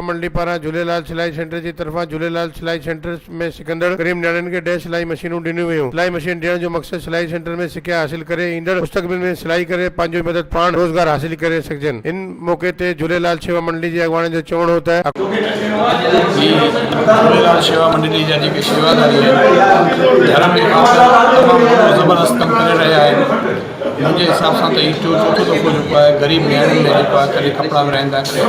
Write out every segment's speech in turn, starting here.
منڊي پاران جهوليلال سلائي سينٽر جي طرفان جهوليلال سلائي سينٽر ۾ سکندڙ غريب نياڻين کي ڏهه سلائي مشينون ڏنيون ويون. سلائي مشين ڏيڻ جو مقصد سلائي سينٽر ۾ سکيا حاصل ڪري ايندڙ مستقبل ۾ سلائي ڪري پنهنجو ئي مدد پاڻ روزگار حاصل ڪري سگهجن. ان موقعي تي جهوليلال شيوا منڊلي جي اڳواڻن جو چوڻ هو ته. جي جهوليلال شيوا منڊلي جا جيڪي شيواداري آهن ڌرم جي خاطر تمام وڏو زبردست ڪم ڪري رهيا آهن. منهنجي حساب سان ته هي ٽيون چوٿون دفعو جيڪو آهي غريب نياڻين ۾ جيڪو آهي ڪڏهن ڪپڙا ورهائن ٿا ڪڏهن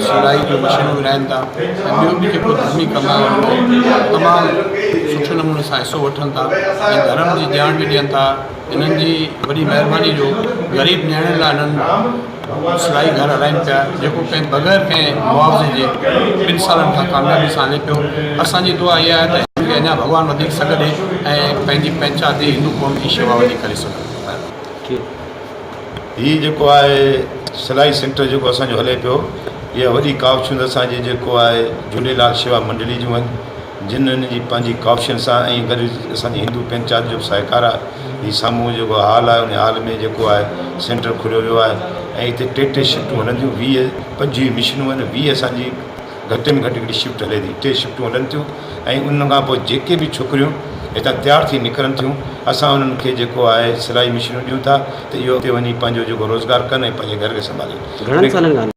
سلائي جون مشينون ورهائن ٿا ۽ ٻيو به جيڪو ڌرمي ڪم آهي ان ۾ تمام سٺي نموني سان حصو وٺن ٿا ۽ ڌرم جي ڄاڻ به ڏين ٿا انهن جي وڏي مهرباني جو غريب نياڻين لاء انهن سلائي گهر هلائين پيا جيڪو ڪنهن بغير ڪنهن معاوضي جي ٻن سالن کان ڪاميابي سان هلي پيو اسان جي دعا اها آهي ته هن کي اڃا ڀڳوان وڌيڪ سگهه ڏي ۽ پنهنجي پنهچاتي هندو قوم جي شيوا وڌيڪ ڪري سگهي. هي جيڪو آهي سلائي سينٽر جيڪو اسان جو هلي پيو اها وڏي ڪاوشون اسان جي جيڪو آهي جهوليلال شيوا منڊلي جون آهن جن هن جي پنهنجي ڪافين سان ۽ گڏ اسان جي هندو پنچات جو به سهڪار آهي. هي سامهون جيڪو هال آهي ان هال ۾ جيڪو آهي سينٽر کليو ويو آهي ۽ هتي ٽي ٽي شفٽون هلن ٿيون ويهه پنجويهه مشينون آهن ويهه اسان جي گهٽ ۾ گهٽ هڪڙي شفٽ هلي ٿي ٽي شفٽون هلن ٿيون ۽ ان کان پوء جيڪي به ڇوڪريون هتان تيار ٿي نڪرن ٿيون اسان انهن کي جيڪو آهي سلائي مشينون ڏيون ٿا ته اهي اتي وڃي پنهنجو جيڪو روزگار ڪن ۽ پنهنجي گهر کي سنڀالين. گهڻن سالن کان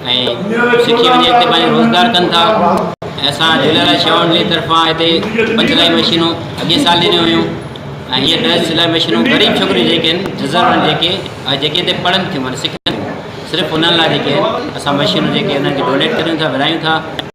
سکي وڃي هتي پنهنجو روزگار ڪن ٿا ۽ اسان جهليلال شيوان ملي طرفان هتي پنج سلائي مشينون اڳي سال ڏنيون هيون ۽ هيء ڏهه سلائي مشينون غريب ڇوڪريون جيڪي آهن جزر آهن جيڪي ۽ جيڪي هتي پڙهن ٿيون معنی سکن صرف انهن لاء جيڪي آهن اسان مشينون جيڪي انهن کي ڊونيٽ ڪريون ٿا ورهايون ٿا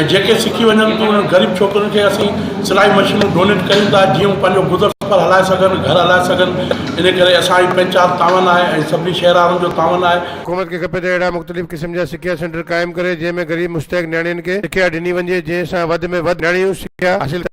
۽ جيڪي سکي وڃن ٿيون انهن غريب ڇوڪرين کي اسين سلائي مشينون ڊونيٽ ڪريون ٿا جيئن هو پنهنجو گذر سفر هلائي سگهن گهر هلائي سگهن ان ڪري اسان جي پنچات تعاون آهي ۽ سڀني شهر وارن جو تعاون آهي. حڪومت کي کپي ته اهڙا مختلف قسم جا سکيا سينٽر قائم ڪري جنهن ۾ غريب مستحق نياڻين کي سکيا ڏني وڃجي جنهن سان وڌ ۾ وڌ نياڻيون سکيا حاصل ڪن.